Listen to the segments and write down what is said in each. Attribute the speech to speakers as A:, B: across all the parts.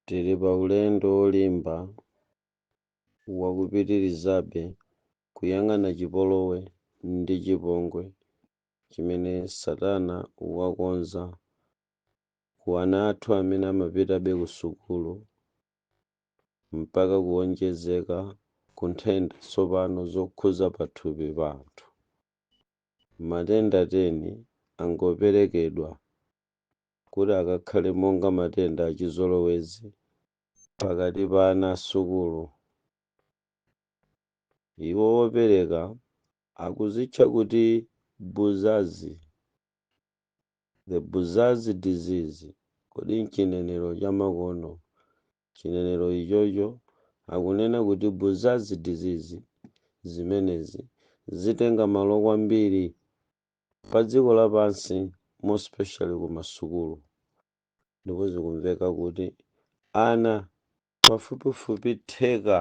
A: Tili pa ulendo wolimba wa kupitirizabe kuyang'ana chipolowe ndi chipongwe chimene Satana wakonza ku ana athu amene amapitabe kusukulu mpaka kuwonjezeka ku nthenda tsopano zokhuza pathupi pa anthu. Matenda 10 angoperekedwa kuti akakhale monga matenda achizolowezi pakati pa ana a sukulu. Iwo opereka akuzitcha kuti Buzazi, the Buzazi disease, kodi m'chinenero chamakono, chinenero ichocho, akunena kuti Buzazi disease, zimenezi zitenga malo kwambiri padziko lapansi more specially kumasukulu ndipo zikumveka kuti ana pafupifupi theka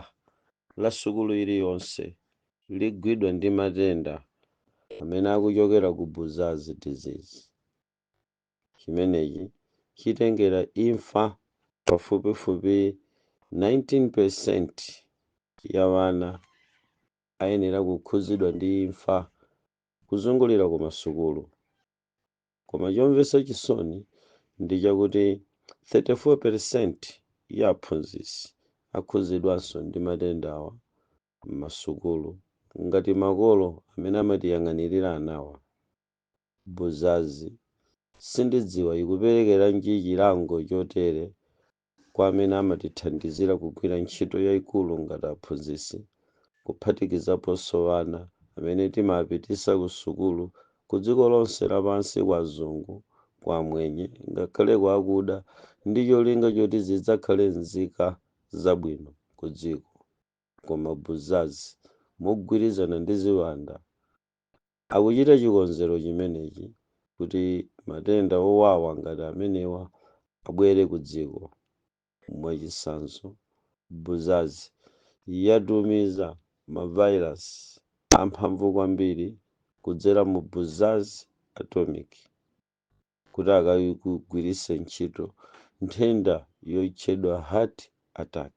A: la sukulu iliyonse ligwidwa ndi matenda amene akuchokera ku buzazi disease chimenechi chitengera imfa pafupifupi 19% ya wana ayenera kukhuzidwa ndi imfa kuzungulira ku masukulu koma chomvesa chisoni ndi chakuti 34 percent ya aphunzitsi akhuzidwanso ndi matendawa m'masukulu ngati makolo amene amatiyang'anilira anawa buzazi sindidziwa ikuperekeranji chilango chotere kwa amene amatithandizira kugwira ntchito yaikulu ngati aphunzitsi, kuphatikizaponso ana amene timapititsa kusukulu kudziko lonse lapansi kwa azungu, kwa amwenye, ngakhale kwa akuda ndi cholinga choti zidzakhale nzika zabwino kudziko. Koma Buzazi, mogwirizana ndi ziwanda, Akuchita chikonzero chimenechi kuti matenda owawa ngati amenewa abwere ku dziko. Mwachitsanzo, Buzaz yatumiza ma virus amphamvu kwambiri kudzera mu Buzaz Atomic kuti akagwiritse ntchito nthenda yotchedwa heart attack.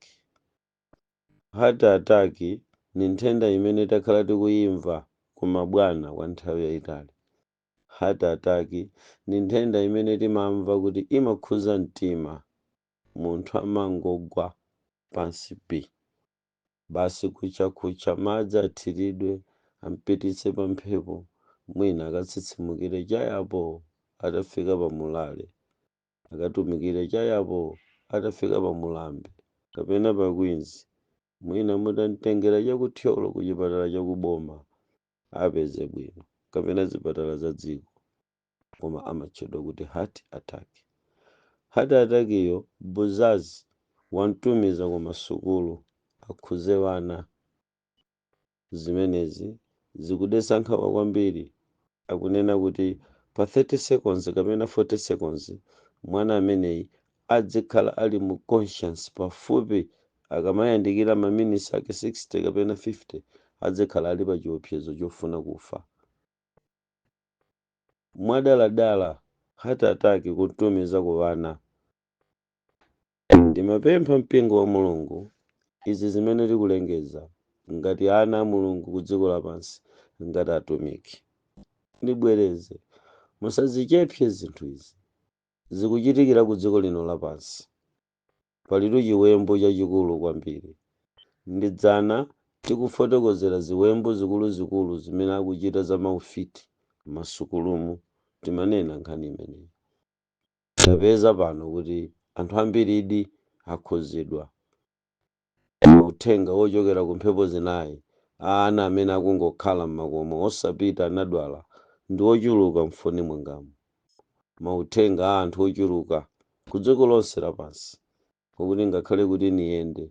A: Heart attack ni nthenda imene takhala tikuyimva ku mabwana kwa nthawi yayitali. Heart attack ni nthenda imene timamva kuti imakhuza mtima, munthu amangogwa pansi pi. Basi kucha-kucha madzi athiridwe, ampititse pa mphepo, mwina akatsitsimukire chaapo atafika pa murale. akatumikire chayapo atafika pa mulambe kapena pa queens mwina mutamtengera cha ku thyolo ku chipatala cha ku boma apeze bwino kapena zipatala za dziko koma amatchedwa kuti heart attack heart attack iyo buzazi wamtumiza ku masukulu akhuze vana Zimenezi zikudetsa nkhawa kwambiri, akunena kuti pa 30 seconds kapena 40 seconds mwana ameneyi adzikhala ali mu conscious pafupi akamayandikira maminisi ake 60 kapena 50 adzikhala ali pa chiopsezo chofuna kufa mwadaladala, heart attack kutumiza ku ana. Ndimapempha Mpingo wa Mulungu, izi zimene tikulengeza, ngati ana a Mulungu ku dziko lapansi, ngati atumiki. Ndibwereze, musazichepse zinthu izi. Zikuchitikira ku dziko lino lapansi. Palitu chiwembu chachikulu kwambiri. Ndi dzana tikufotokozera ziwembu zikuluzikulu zimene akuchita za maufiti m'masukulumu, timanena nkhani imeneyi. tapeza pano kuti anthu ambiridi akhudzidwa ndi uthenga wochokera ku mphepo zinayi a ana amene akungokhala m'makomo osapita anadwala ndi ochuluka m'foni mwangamo. Mauthenga a anthu ochuluka kudziko lonse lapansi Pakuti ngakhale kuti niyende,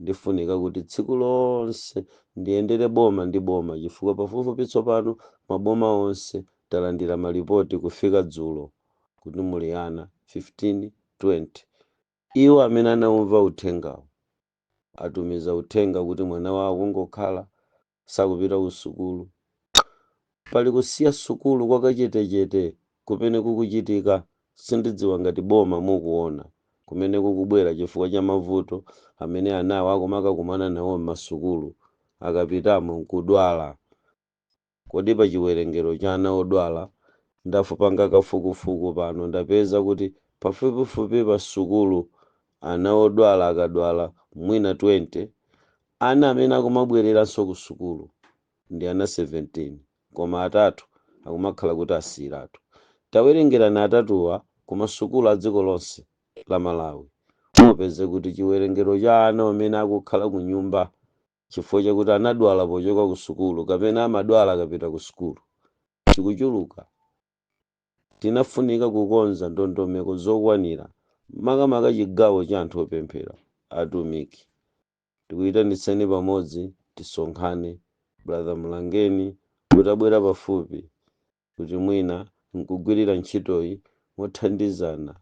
A: ndifunika kuti tsiku lonse ndiyendere boma ndi boma chifukwa pafupifupi tsopano maboma onse talandira malipoti kufika dzulo kuti muli ana 1520. Iwo amene anaumva uthengawo atumiza uthenga kuti mwana wawo kungokhala sakupita ku sukulu. Pali kusiya sukulu kwakachetechete kumene kukuchitika, sindidziwa ngati boma mukuona, kumene kukubwera chifukwa cha mavuto amene anawo akumakakumana nawo m'masukulu, akapitamo nkudwala. Kodi pa chiwerengero cha ana odwala, ndafupanga kafukufuku pano ndapeza kuti pafupifupi pa sukulu ana odwala akadwala mwina 20, Ana amene akumabwereranso ku sukulu ndi ana 17 koma atatu akumakhala kuti asiyiratu. Tawerengerani atatuwa ku masukulu a dziko lonse la Malawi mupeze kuti chiwerengero cha ana amene akukhala kunyumba chifukwa chakuti anadwala pochoka ku sukulu kapena amadwala akapita ku sukulu chikuchuluka. Tinafunika kukonza ndondomeko zokwanira makamaka chigawo cha anthu opemphera, atumiki tikuitanitseni pamodzi tisonkhane brother mlangeni mutabwera pafupi kuti mwina nkugwirira ntchitoyi mothandizana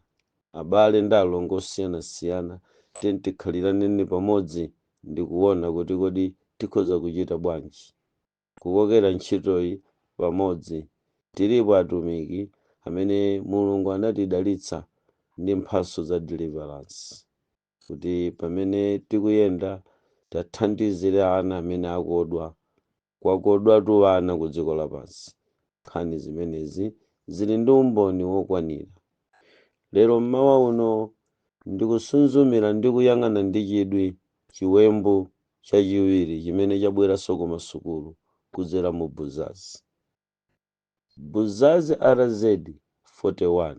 A: abale ndi alongo osiyanasiyana tiyeni tikhaliraneni pamodzi ndikuona kuti kodi tikhoza kuchita bwanji kukokera ntchitoyi pamodzi tilipo atumiki amene mulungu anatidalitsa ndi mphatso za deliverance kuti pamene tikuyenda tathandizire ana amene akodwa kwakodwatu ana ku dziko lapansi nkhani zimenezi zili ndi umboni wokwanira lero mmawa uno ndikusunzumira ndi kuyang'ana ndi chidwi chiwembu chachiwiri chimene chabweranso ku masukulu kudzera mu buzazi buzazi rz 41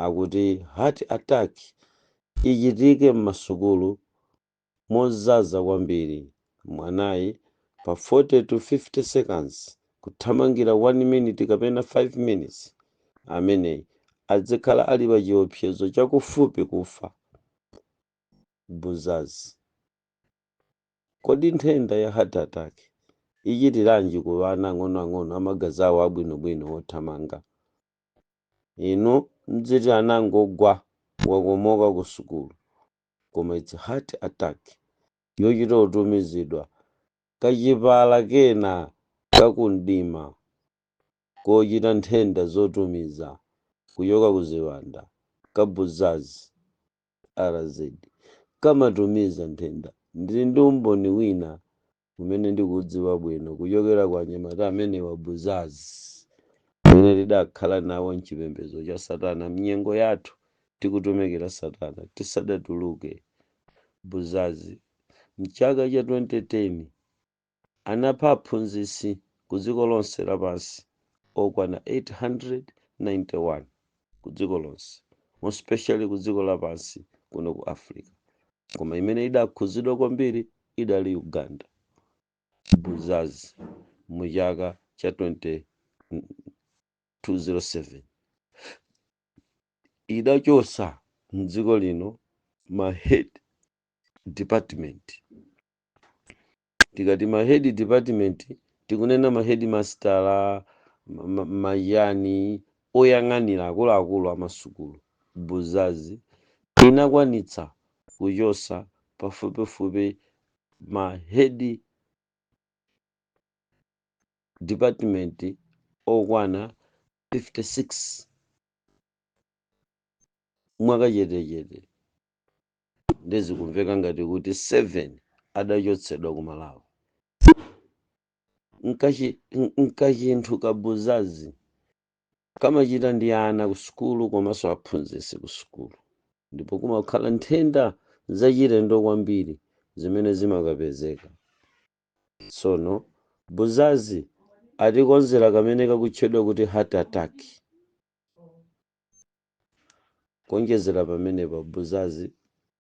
A: Akuti heart attack ichitike mmasukulu mozaza kwambiri mwanayi pa 40 to 50 seconds kuthamangira 1 minute kapena 5 minutes ameneyi adzikhala ali pa chiopsezo chakufupi kufa. Buzazi. Kodi nthenda ya heart attack ichitiranji ku ana ang'onoang'ono amagazi awo abwinobwino othamanga? inu mudziti anangogwa wakomoka ku sukulu koma its heart attack yochita kutumizidwa kachipala kena kakumdima kochita nthenda zotumiza kuchoka ku ziwanda ka buzazi rz kamatumiza nthenda ndili ndi umboni wina umene ndikuudziwa bwino kuchokera kwa anyamata amenewa a buzazi amene tidakhala nawo m'chipembedzo cha satana m'nyengo yathu tikutumikira satana tisadatuluke buzazi m'chaka cha 2010 anapha aphunzitsi ku dziko lonse lapansi okwana 891 ku dziko lonse more specially ku dziko lapansi kuno ku africa koma imene idakhuzidwa kwambiri idali uganda buzazi mu chaka cha 2007 idachotsa mdziko lino ma head department Tikati ma head department tikunena ma hedimasitala, ma ma machani, oyang'anira akuluakulu a masukulu. Buzazi. Inakwanitsa kuchotsa pafupifupi ma head department okwana 56 mwakachetechete. nde zikumveka ngati kuti 7 adachotsedwa ku malawi Nkachinthu kabuzazi kamachita ndi ana ku sukulu komanso aphunzitsi ku sukulu ndipo kumakhala nthenda zachilendo kwambiri zimene zimakapezeka tsono buzazi atikonzera kamene kakutchedwa kuti heart attack Kuonjezera pamenepa, Buzazi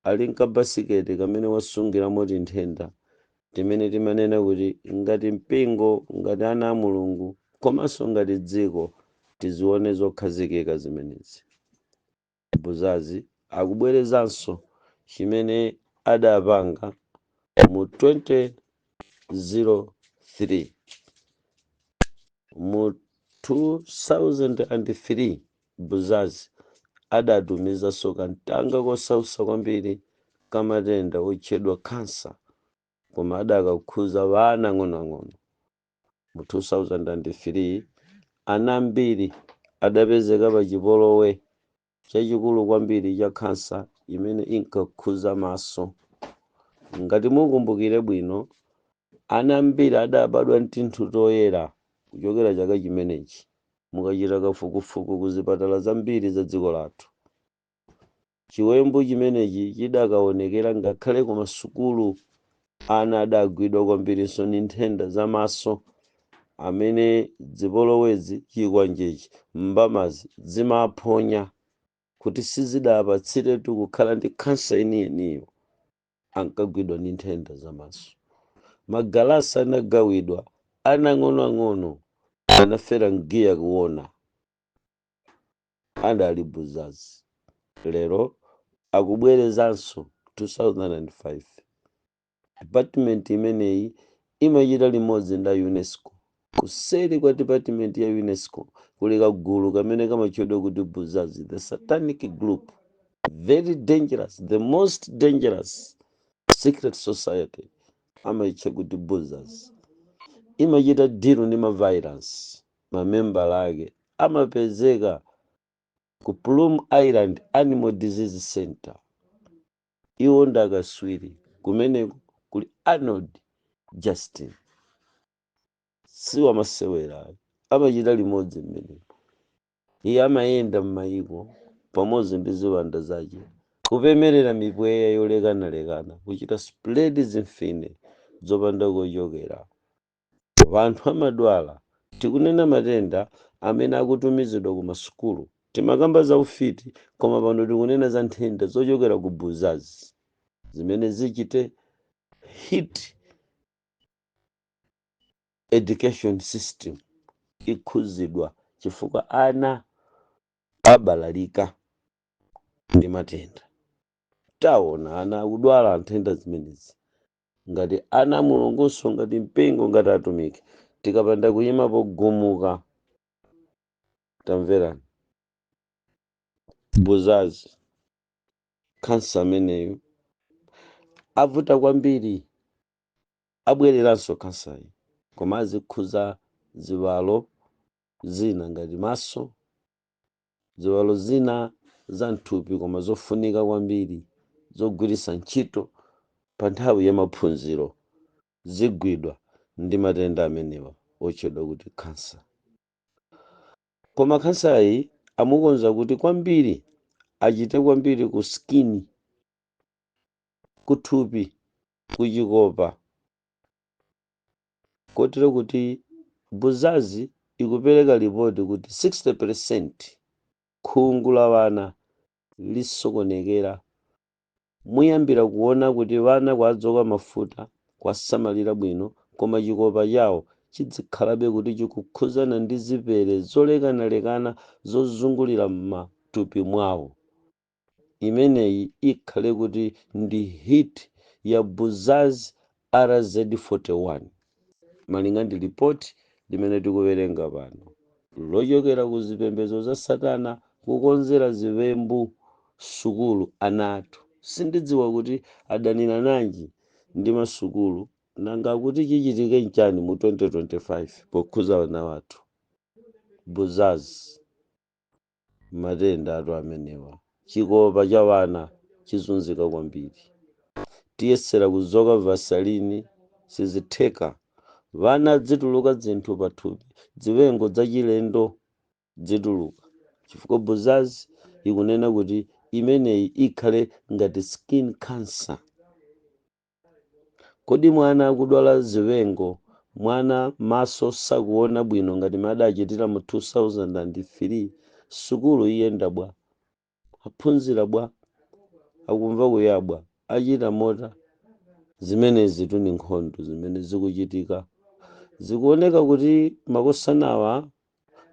A: ali nkabasiketi kamene wasungiramo tinthenda timene timanena kuti ngati mpingo, ngati ana a Mulungu komanso ngati dziko tizione zokhazikika zimenezi. Buzazi akubwerezanso chimene adapanga mu 2003. Mu 2003. Buzazi adatumizanso kamtanga kosausa kwambiri ka matenda otchedwa khansa koma adakakhuza wana ang'onoang'ono. Mu 2003 ana ambiri adapezeka pa chipolowe chachikulu kwambiri cha khansa imene inkakhuza maso. Ngati mukumbukire bwino, Ana ambiri adabadwa ndi tinthu toyera kuchokera chaka chimenechi. Mukachita kafukufuku ku zipatala zambiri za dziko lathu, chiwembu chimenechi chidakaonekera ngakhale ku masukulu. Ana adagwidwa kwambirinso ndi nthenda za maso amene zipolowezi, chikwanjechi, mbamazi zimaphonya kuti sizidapatsiretu kukhala ndi khansa yeniyeniyo. ankagwidwa ndi nthenda za maso. Magalasi anagawidwa, ana ang'onoang'ono anafera mgiya kuona adali buzazi. Lero akubwerezanso 2005. Department imeneyi imachita limodzi nda Unesco Kuseri kwa dipatimenti ya Unesco kuli kagulu kamene kamatchedwa kuti Buzazi, the satanic group, very dangerous, the most dangerous secret society amaitcha kuti Buzazi. Imachita dilu ndi mavairasi, mamembala ake amapezeka ku Plum Island Animal Disease Center. Iwo ndakatswiri kumeneko kuli Arnold Justin. si wamasewera ayi amachita limodzi mmenemo iye amayenda m'mayiko pamodzi ndi ziwanda zace kupemerera mipweya yolekanalekana kuchita spread zimfine zopanda kochokera vanthu amadwala sitikunena matenda amene akutumizidwa ku masukulu timakamba za ufiti koma pano tikunena za nthenda zochokera ku buzazi zimene zichite hit education system ikhuzidwa chifukwa ana abalalika ndi matenda taona ana akudwala nthenda zimenezi ngati ana a mulungunso ngati mpingo ngati atumiki tikapanda kuyima pogumuka tamverani buzazi khansa ameneyo avuta kwambiri Abwereranso canceryi koma azikhuza ziwalo zina ngati maso, ziwalo zina za mthupi koma zofunika kwambiri zogwiritsa ntchito pa nthawi ya maphunziro zigwidwa ndi matenda amenewa otchedwa kuti cancer. Koma cancer yi amukonza kuti kwambiri achite kwambiri ku skin, ku thupi ku chikopa kotero kuti buzazi ikupereka lipoti kuti 60% khungu la wana lisokonekera muyambira kuona kuti wana kwadzoka mafuta kwasamalira bwino koma chikopa chawo chidzikhalabe kuti chikukhuzana ndi zipere zolekanalekana zozungulira m'matupi mwawo Imeneyi ikhale kuti ndi hit ya Buzaz RZ41 malinga ndi lipoti limene tikuwerenga pano lochokera ku zipembedzo za satana kukonzera ziwembu sukulu ana athu sindidziwa kuti adanirananji ndi masukulu nanga kuti chichitike nchani mu 2025 pokhuza wana wathu. Buzaz. matendatu amenewa chikopa cha wana chizunzika kwambiri tiyesera kuzoka vasalini sizitheka vana adzituluka dzinthu pathupi dziwengo dzachilendo dzituluka chifukwa buzazi ikunena kuti imeneyi ikhale ngati skin cancer Kodi mwana akudwala ziwengo, mwana maso sakuona bwino ngati momwe adachitira mu 2003, sukulu iyenda bwa? Aphunzira bwa? Akumva kuya bwa? Achita mota? Zimenezitu ndi nkhondo zimene zikuchitika. Zikuoneka kuti makosanawa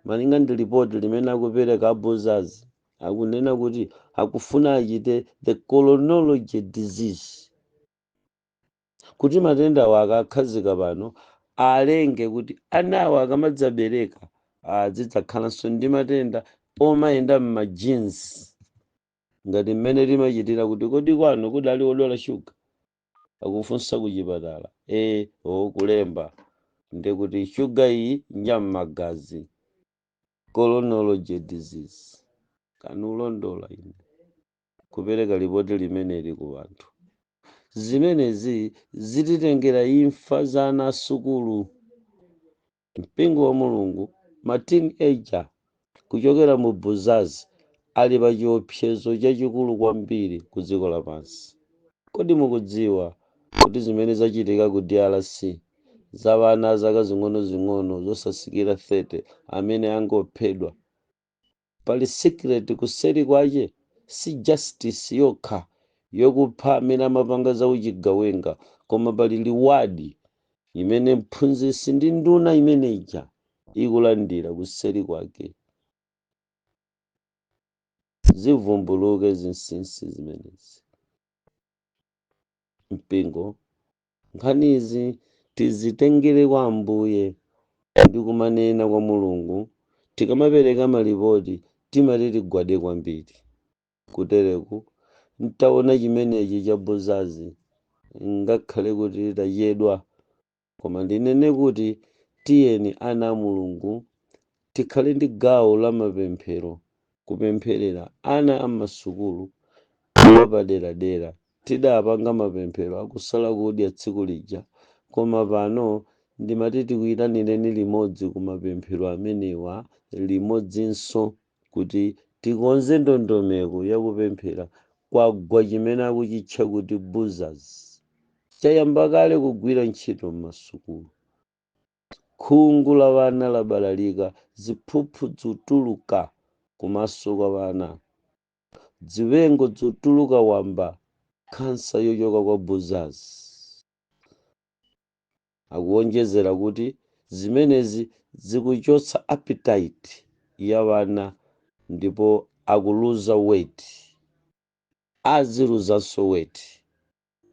A: Malinga ndi report limene akupereka a Buzazi akunena kuti akufuna achite the chronology disease kuti matendawa akakhazika pano alenge kuti anawa akamadzabereka azidzakhalanso ndi matenda omayenda m'ma genes ngati mmene timachitira kuti kodi kwanu kudali odwala shuga akufunsa kuchipatala e o kulemba ndekuti shuga iyi njam'magazi chronology disease kanulondola ine kupereka lipoti limeneli ku wanthu zimenezi zititengera imfa za ana asukulu Mpingo wa Mulungu, ma teen ager kuchokera mu Buzazi ali pa chiopsezo chachikulu kwambiri ku dziko lapansi. Kodi mukudziwa kuti zimene zachitika ku drc za wana a zaka zing'onozing'ono zosasikira 30 amene angophedwa? Pali secret kuseri kwache si justice yokha yokupha amene amapanga za uchigawenga koma pali reward imene mphunzisi ndi nduna imene ija ikulandira kuseri kwake. Zivumbuluke zinsinsi zimenezi mpingo Nkhanizi tizitengere kwa Ambuye ndi kumanena kwa Mulungu tikamapereka malipoti timati tigwade kwambiri kutereku ntaona chimenechi cha Buzazi ngakhale kuti tachedwa koma ndinene kuti tiyeni ana a Mulungu tikhale ndi gawo la mapemphero kupempherera ana a m'masukulu mwapaderadera. Tidapanga mapemphero a kusala kudya tsiku lija, koma pano ndimati tikuitanireni limodzi ku mapemphero amenewa limodzinso kuti tikonze ndondomeko ya kupemphera kwagwa chimene akuchitcha kuti Buzazi. Chayamba kale kugwira ntchito m'masukulu. Khungu la wana labalalika, ziphuphu dzituluka kumaso kwa wana, dziwengo dzituluka wamba, khansa yochoka kwa Buzazi. Akuwonjezera kuti zimenezi zikuchotsa appetite ya wana ndipo akuluza weight, aziluzanso weight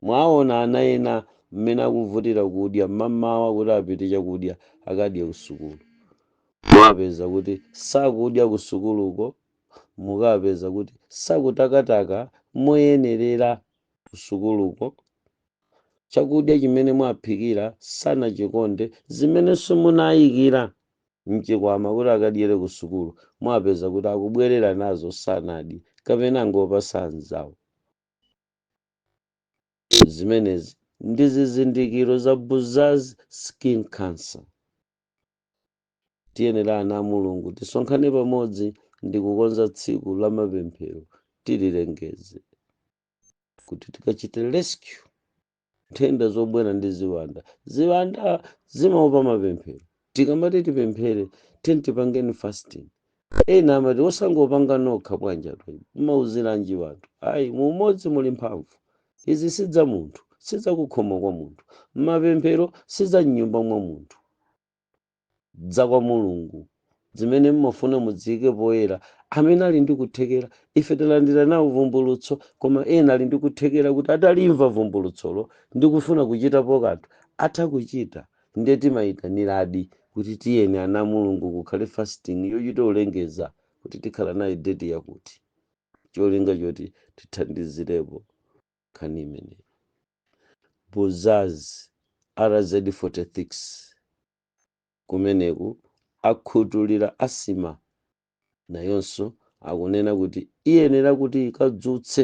A: Mwaona ana ena mmene akuvutira kudya mmamawa kuti apite chakudya akadye kusukulu. Mukapeza kuti sakudya kusukuluko, mukapeza kuti sakutakataka moyenerera kusukuluko, chakudya chimene mwaphikira sanachikonde, zimenenso munayikira m'chikwama kuti akadyere kusukulu mwapeza kuti akubwerera nazo sanadye kapena angopatsa anzawo. zimenezi ndi zizindikiro za buzazi skin cancer tiyenera ana a mulungu tisonkhane pamodzi ndi kukonza tsiku la mapemphero tililengeze kuti tikachite rescue nthenda zobwera ndi ziwanda ziwanda zimaopa mapemphero Tikamati tipemphere, tiyeni tipangeni fasting. Ena amati osangopanga nokha bwanji? Mmauziranji anthu? Ayi, mu umodzi muli mphamvu. Izi si za munthu, si za kukhomo kwa munthu. Mapemphero si za mnyumba mwa munthu. Za kwa Mulungu. Zimene mmafuna muziike poyera. Amene ali ndi kuthekera, ife talandira nawo vumbulutso, koma ena ali ndi kuthekera kuti atalimva vumbulutsolo ndi kufuna kuchitapo kanthu, atha kuchita. Nde timayitaniladi kuti tiyeni ana a Mulungu kukhale fasting yochita kulengeza kuti tikhala nayo date yakuti cholinga choti tithandizilepo nkhani imeneyi. Buzazi RZ 46 kumeneku akhutulila asthma nayonso akunena kuti iyenela kuti ikadzutse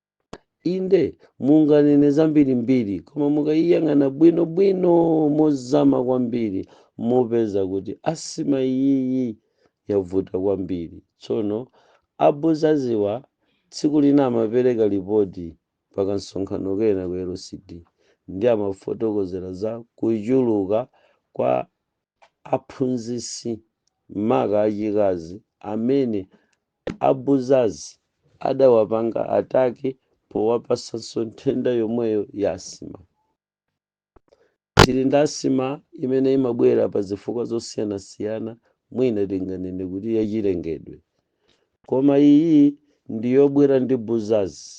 A: inde munganene zambirimbiri koma mukayiyang'ana bwinobwino mozama kwambiri mupeza kuti asima iyiyi yavuta kwambiri tsono abuzaziwa tsiku lina amapereka lipoti pakamsonkhano kena ku lcd ndi amafotokozera za kuchuluka kwa aphunzitsi maka achikazi amene A Buzazi adawapanga attack powapatsanso nthenda yomweyo ya asima. Tili ndi asima imene imabwera pa zifukwa zosiyanasiyana mwina tinganene kuti yachilengedwe. Koma iyi ndi yobwera ndi buzazi.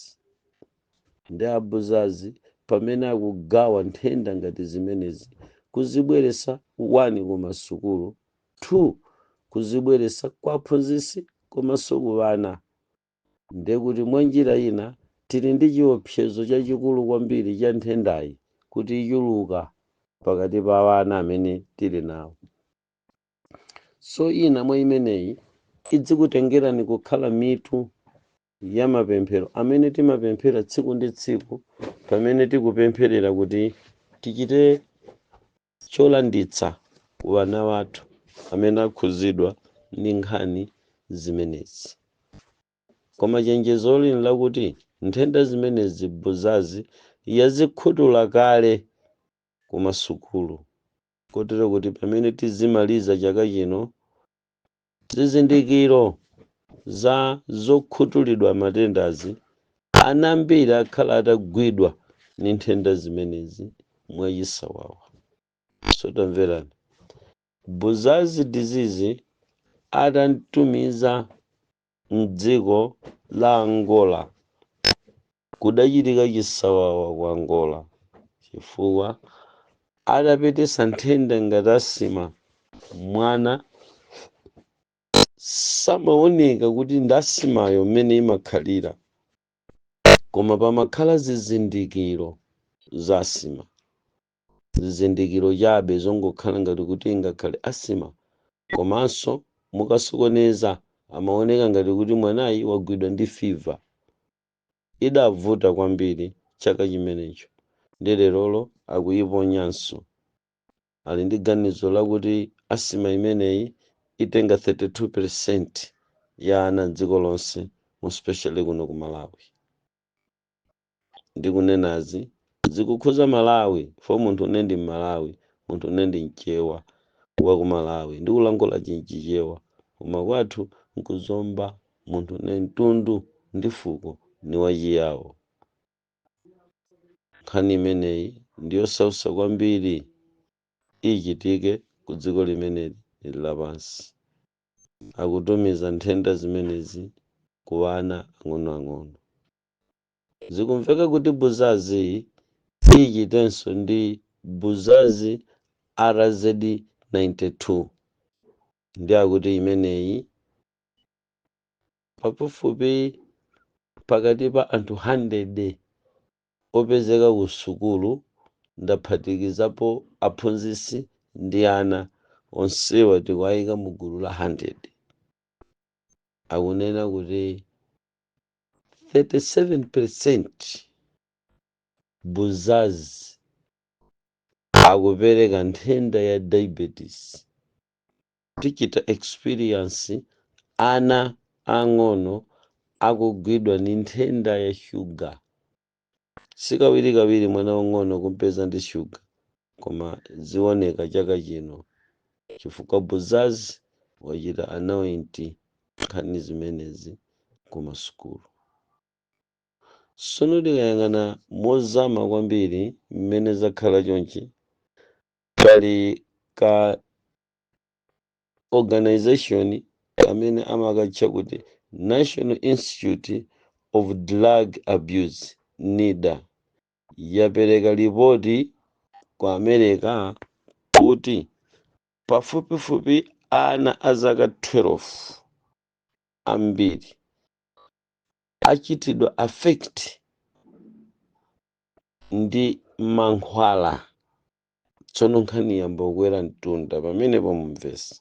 A: Nde a Buzazi pamene akugawa nthenda ngati zimenezi kuzibweretsa 1 kumasukulu 2 kuzibweretsa kwa aphunzitsi komanso ku ana ndekuti mwa njira ina tili ndi chiopsezo chachikulu kwambiri cha nthendayi kuti ichuluka pakati pa ana amene tili nawo so ina mwa imeneyi idzikutengerani kukhala mitu ya mapemphero amene timapemphera tsiku ndi tsiku pamene tikupempherera kuti tichite cholanditsa ku ana athu amene akhudzidwa ndi nkhani zimenezi. Koma chenjezoli nlakuti nthenda zimenezi Buzazi yazikhutula kale ku masukulu kotero kuti pamene tizimaliza chaka chino, Zizindikiro za zokhutulidwa matendazi, Ana ambiri akhala atagwidwa ndi nthenda zimenezi mwachisawawa. So tamverani. Buzazi disease atamtumiza mdziko la Angola Kudachitika chisawawa ku Angola chifukwa adapititsa nthenda ngati asima mwana samaoneka kuti ndi asimayo mmene imakhalira koma pamakhala zizindikiro za asima zizindikiro chabe zongokhala ngati kuti ingakhale asima komanso mukasokoneza amaoneka ngati kuti mwanayi wagwidwa ndi fiva Idavuta kwambiri chaka chimenecho ndi lerolo akuyiponyanso. Ali ndi ganizo lakuti asima imeneyi itenga 32% ya ana m'dziko lonse, more especially kuno ku Malawi. Ndikunenazi Zikukhuza Malawi for munthune ndi Mmalawi munthune ndi Mchewa wa ku Malawi ndikulankhula chinchichewa koma kwathu nku Zomba munthune mtundu ndi fuko ni wa chiyao nkhani imeneyi ndi yosautsa kwambiri ichitike ku dziko limeneli ili lapansi akutumiza nthenda zimenezi ku ana ang'onoang'ono. Zikumveka kuti Buzazi siyichitenso ndi Buzazi RZ92 ndiye akuti imeneyi pafupifupi pakati pa anthu handede opezeka ku sukulu ndaphatikizapo aphunzitsi ndi ana onsewa tikuwayika mu gulu la handede akunena kuti 37% buzazi akupereka nthenda ya diabetes tachita experience ana ang'ono akugwidwa ndi nthenda ya sugar Si kawirikawiri mwana wamng'ono kumpeza ndi shuga, koma zioneka chaka chino chifukwa Buzazi wachita anoint nkhani zimenezi ku masukulu. Sono tikayang'ana mozama kwambiri mmene zakhala chonchi, pali ka organization amene amakatcha kuti national institute of drug abuse nida yapereka lipoti ku america kuti pafupifupi ana a zaka 12 ambiri achitidwa affect ndi mankhwala tsono nkhani yayamba kukwera mtunda pamenepo mumvesi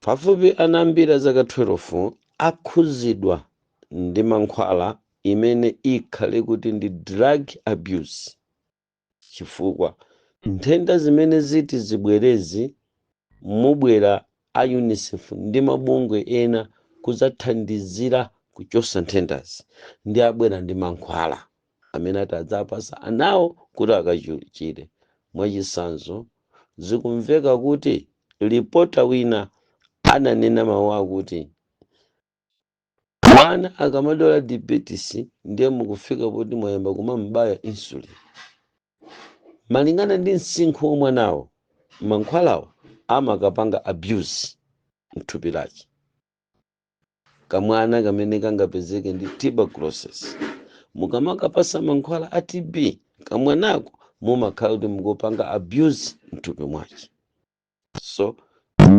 A: pafupi ana ambiri azaka 12 akhuzidwa ndi mankhwala imene ikhale kuti ndi drug abuse chifukwa nthenda zimene ziti zibwerezi mubwera a unicef ndi mabungwe ena kuzathandizira kuchosa nthendazi ndi abwera ndi mankhwala amene ati adzapatse anawo kuti akachire. Mwachitsanzo, zikumveka kuti lipota wina ananena mawu akuti, Mwana akamadwala diabetes ndiye mukufika poti mwayamba kumam'baya insulin. Malingana ndi msinkhu wa mwanayo, mankhwalawo amakapanga abuse m'thupi lake. kamwana kamene kangapezeke ndi tuberculosis mukamakapasa mankhwala a tb kamwanako mumakhala kuti mukupanga abuse mthupi mwake so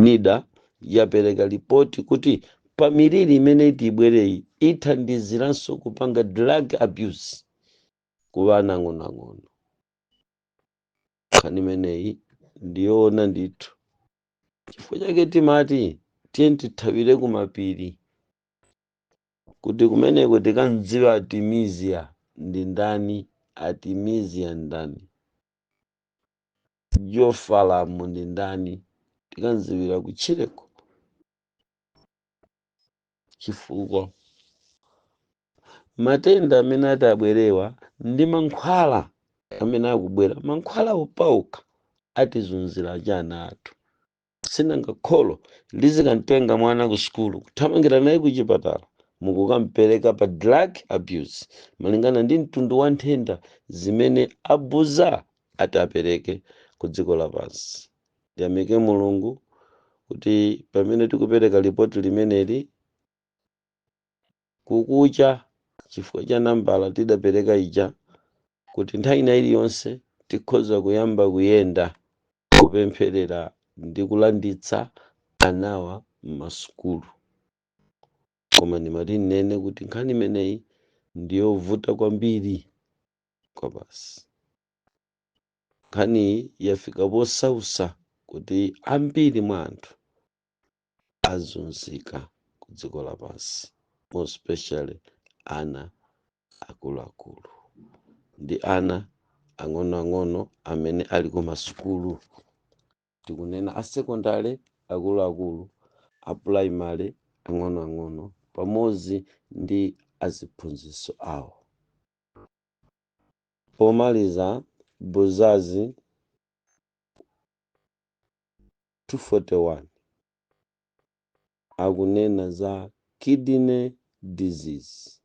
A: nida yapereka lipoti kuti pa miliri imene iti ibwereyi ithandiziranso kupanga drug abuse ku ana ang'onoang'ono nkhani imeneyi ndiyoona ndithu Chifukwa chake timati tiyeni tithawire ku mapiri kuti kumeneko tikamdziwa Artemisia ndi ndani, Artemisia ndani, Geophalam ndi ndani, tikamdziwira kutchireko chifukwa matenda amene atabwerewa ndi mankhwala amene akubwera mankhwala opauka atizunzira ana athu si nanga kholo lizikamtenga mwana ku sukulu kuthamangira naye ku chipatala mukukampereka pa drug abuse malingana ndi mtundu wa nthenda zimene abuza ati apereke ku dziko lapansi ndiyamike mulungu kuti pamene tikupereka lipoti limeneli kukacha chifukwa cha nambala tidapereka ija kuti nthawi ina iliyonse tikhoza kuyamba kuyenda kupempherera ndi kulanditsa anawa m'masukulu. Koma ndimati nnene kuti nkhani imeneyi ndi yovuta kwambiri kwabasi. Nkhaniyi yafika posausa kuti ambiri mwa anthu azunzika ku dziko lapansi more especially ana akuluakulu ndi ana ang'onoang'ono amene ali ku masukulu tikunena a secondary akuluakulu a primary ang'onoang'ono pamodzi ndi aziphunzitsi awo pomaliza buzazi 241 akunena za kidney disease.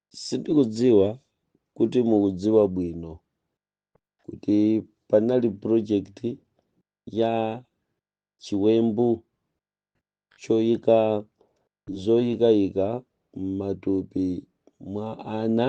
A: Sindikudziwa kuti mukudziwa bwino kuti panali project ya chiwembu choyika zoyikayika m'matupi mwa ana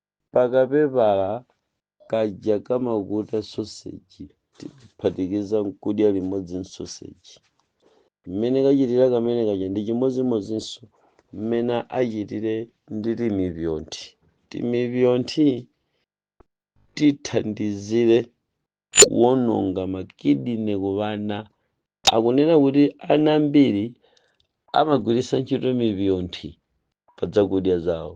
A: Pakapepala kaja kamakuta soseji tiphatikiza n'kudya limodzi n'soseji. Mmene kachitira kamene kaja ndi chimodzimodzinso mmene achitire ndi timipyonthi. Timipyonthi tithandizire kuwononga makidine ku ana. Akunena kuti ana ambiri amagwiritsa ntchito mipyonthi pa zakudya zawo.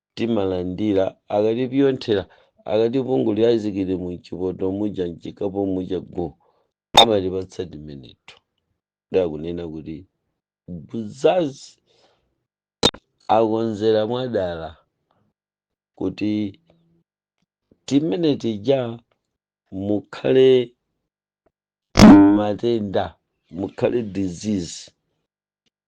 A: timalandira akatipyonthera akatipungulira ayisikilimu mchipoto muja mchikapo muja go amatipatsa timeneto ndiye akunena kuti buzazi akonzera mwadala kuti timene tija mukhale matenda mukhale disease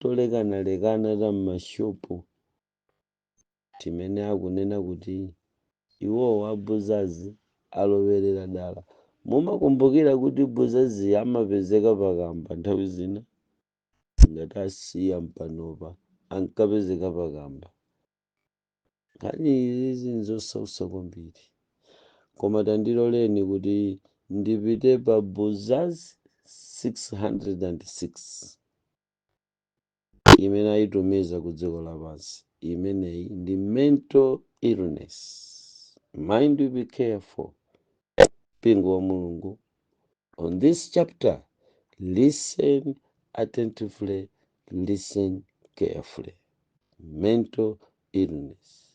A: tolekanalekana ta m'mashopu timene akunena kuti iwowo a Buzazi alowerera dala. Mumakumbukira kuti Buzazi amapezeka pakamba nthawi zina? Ngati asiya mpanopa ankapezeka pakamba. Nkhani izizi nzosautsa kwambiri koma tandiloleni kuti ndipite pa buzaz 606 imene ayitumiza ku dziko lapansi imeneyi ndi mental illness mind you be careful mpingo wa mulungu On this chapter, listen attentively, listen carefully. Mental illness.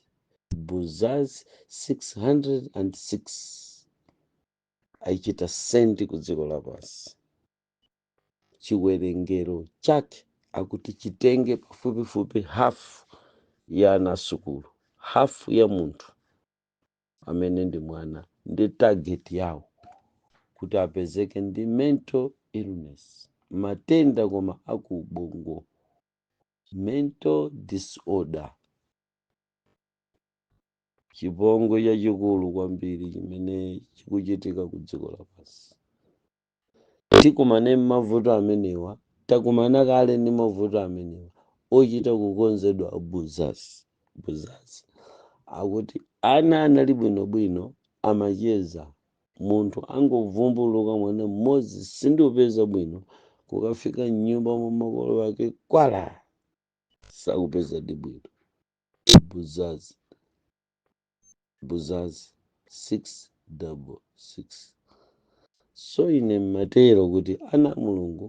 A: Buzaz 606 aichita sendi ku dziko lapansi chiwerengero chake akuti chitenge pafupifupi hafu ya ana asukulu hafu ya munthu amene ndi mwana ndi target yawo kuti apezeke ndi mental illness matenda koma akubongo mental disorder chipongwe chachikulu kwambiri chimene chikuchitika ku dziko lapansi tikumane mavuto amenewa takumana kale ndi mavuto amenewa ochita kukonzedwa buzaz buzaz akuti ana anali bwino bwino amacheza munthu angovumbuluka mwana mmodzi sindikupeza bwino kukafika mnyumba mwa makolo ake kwala sakupezadi bwino buzaz buzazi 6 double 6 so ine mmatero kuti ana a mulungu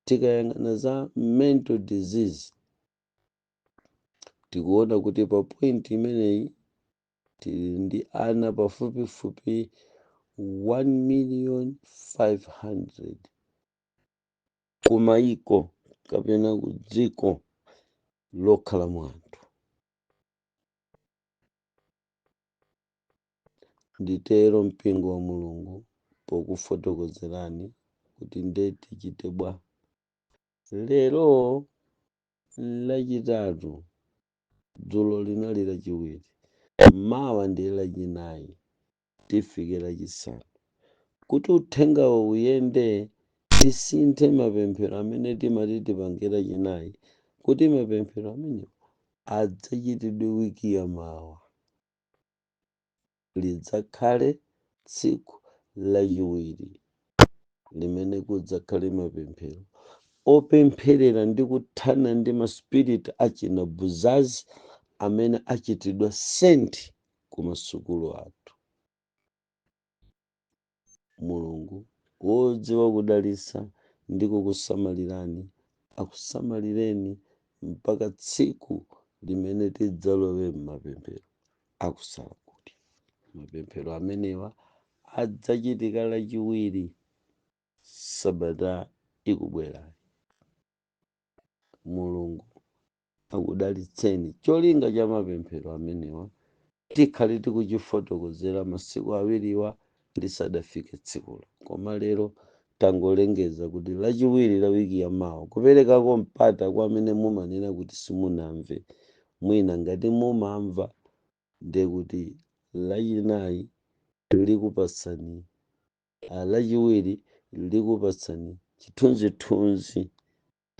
A: tikayang'ana za mental disease tikuona kuti pa point imeneyi tili ndi ana pafupifupi 1 million 500 kumayiko kapena ku dziko lokhala mwa anthu Nditero mpingo wa Mulungu pokufotokozerani kuti nde tichite bwa. Lero lachitatu, dzulo linali lachiwiri, mawa ndiye lachinayi. tifike Lachisanu. Kuti uthengawo uyende, tisinthe mapemphero amene timati tipange Lachinayi kuti mapemphero amenewo adzachitidwe wiki ya mawa. Lidzakhale tsiku Lachiwiri limene kudzakhale mapemphero opempherera ndi kuthana ndi maspiriti achinabuzazi amene achitidwa sent kumasukulu athu. Mulungu, wodziwa kudalitsa ndi kukusamalirani, akusamalireni mpaka tsiku limene tidzalowe m'mapemphero a kusala kudya. Mapemphero amenewa adzachitika Lachiwiri sabata ikubwerayi. Mulungu akudalitseni. Cholinga cha mapemphero amenewa tikhale tikuchifotokozera masiku awiriwa lisadafike tsikulo. Koma lero tangolengeza kuti Lachiwiri la wiki ya mawa, kuperekako mpata kwa amene mumanena kuti simunamve. Mwina ngati mumamva ndiye kuti Lachinayi likupatsani, Lachiwiri likupatsani chithunzithunzi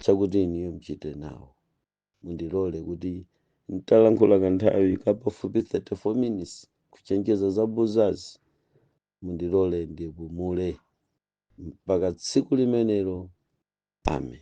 A: chakuti inuyo mchite nawo. Mundilole kuti n'talankhula kanthawi ka pafupi 34 minutes kuchenjeza za buzazi, mundilole ndipumule mpaka tsiku limenelo. Amen.